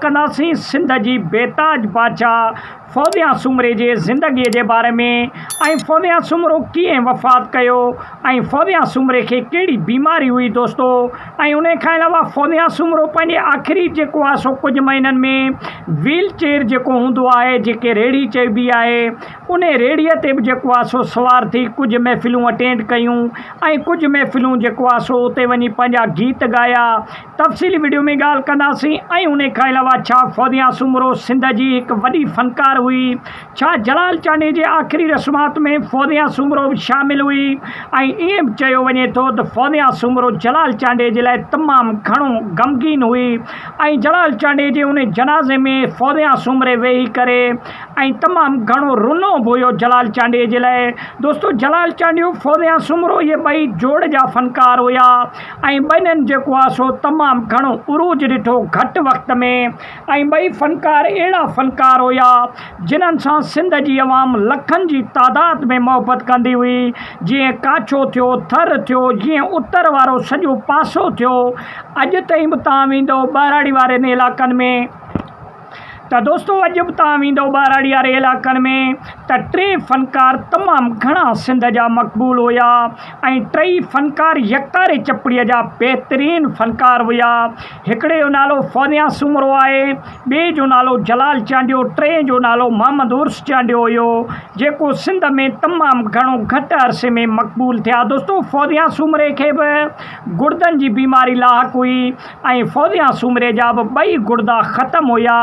ڪنداسين سنڌ جي بيتاج بادشاهه فوميا سومري جي زندگيء جي باري ۾ ۽ فوميا سومرو ڪيئن وفات ڪيو ۽ فوميا سومري کي ڪهڙي بيماري هئي دوستو ۽ انهي کان علاوه فوميا سومرو پنهنجي آخري جيڪو آهي سو ڪجهه مهينن ۾ ويل چيئر جيڪو هوندو آهي جيڪي ريڙهي چئبي آهي انهي ريڙهي تي به جيڪو آهي سو سوار ٿي ڪجهه محفلون اٽينڊ ڪيون ۽ ڪجهه محفلون جيڪو آهي سو اتي وڃي پنهنجا گيت ڳايا تفصيلي وڊيو ۾ ڳالهه ڪنداسين ۽ انهي کان علاوه ڇا فوزيا سومرو سنڌ جي هڪ وڏي فنڪار هئي؟ ڇا جلال چانڊئي جي آخري رسومات ۾ فوزيا سومرو به شامل هئي؟ ۽ ائين به چيو وڃي ٿو ته فوزيا سومرو جلال چانڊئي جي لاء تمام گهڻو غمگين هئي ۽ جلال چانڊئي جي انهي جنازي ۾ فوزيا سومري ويهي ڪري ۽ تمام گهڻو رنو به هيو جلال چانڊئي جي لاء دوستو جلال چانڊيو فوزيا سومرو اهي ٻئي جوڙ جا فنڪار هيا ۽ ٻنين جيڪو آ سو تمام گهڻو عروج ڏٺو گهٽ وقت ۾ ۽ ٻئي فنڪار اهڙا فنڪار هيا جنھن سان سنڌ جي عوام لکن جي تعداد ۾ محبت ڪندي هئي جيئن ڪاڇو ٿيو ٿر ٿيو جيئن اتر وارو سڄو پاسو ٿيو اڄ تائين به توهان ويندؤ ٻهراڙي وارين علائقن ۾ ته دوستو اڄ به توهان ويندو ٻهراڙي واري علائقن ۾ ته ٽي فنڪار تمام گهڻا سنڌ جا مقبول هيا ۽ ٽئي فنڪار يڪتاري چپڙي جا بهترين فنڪار هيا هڪڙي جو نالو فوزيان سومرو آهي ٻئي جو نالو جلال چانڊيو ٽئين جو نالو محمد عرس چانڊيو هيو جيڪو سنڌ ۾ تمام گهڻو گهٽ عرصي ۾ مقبول ٿيا دوستو فوزيان سومري کي به گڙدن جي بيماري لاحق هئي ۽ فوزيا سومري جا به ٻئي گڙدا ختم هيا.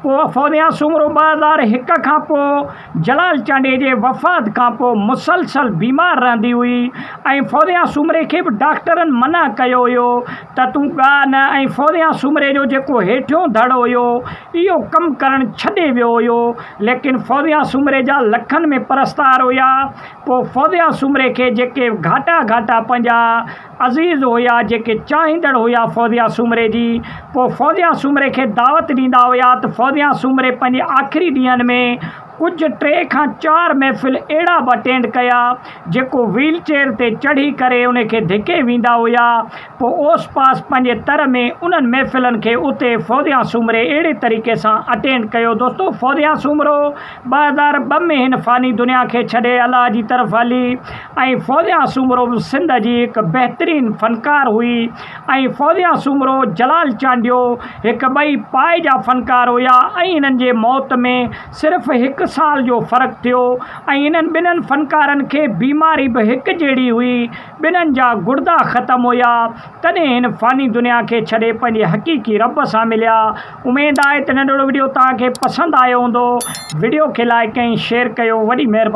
پوء فوزيا سومرو ٻه هزار هڪ کان پوء جلال چانڊيي جي وفات کان پوء مسلسل بيمار رهندي هئي ۽ فوزيا سومري کي به ڊاڪٽرن منع ڪيو هيو ته تون ڳاء نه ۽ فوزيا سومري جو جيڪو هيٺيون ڌڙ هيو اهو ڪم ڪرڻ ڇڏي ويو هيو ليڪن فوزيا سومري جا لکن ۾ پرستار هيا پوء فوزيا سومري کي جيڪي گهاٽا گهاٽا پنهنجا عزيز هيا جيڪي چاهيندڙ هيا فوزيه سومري جي پوء فوزيه سومري کي دعوت ڏيندا هيا ته فوزيه سومري پنهنجي آخري ڏينهن ۾ ڪجهه ٽي کان چار محفل اهڙا به اٽينڊ ڪيا جيڪو ويل چيئر تي چڙهي ڪري ان کي ڌڪي ويندا هيا پوء اوس پاس پنهنجي تر ۾ انهن محفلن کي اتي فوزيه سومري اهڙي طريقي سان اٽينڊ ڪيو دوستو فوزيه سومرو ٻه هزار ٻه ۾ هن فاني دنيا کي ڇڏي الله جي طرف هلي ۽ فوزيا سومرو به سنڌ جي هڪ بهترين فنڪار هئي ۽ فوزيا سومرو، جلال چانڊيو هڪ ٻئي پائي جا فنڪار هيا ۽ هنن جي موت ۾ صرف هڪ سال جو فرق ٿيو ۽ انهن ٻنهن فنڪارن کي بيماري به هڪ جهڙي هئي ٻنهن جا گڙدا ختم هيا تڏهن هن فاني دنيا کي ڇڏي پنهنجي حقيقي رب سان مليا. اميد آهي ته ننڍڙو وڊيو توهان کي پسند آيو هوندو وڊيو کي لائڪ ۽ شيئر ڪيو وڏي مهرباني.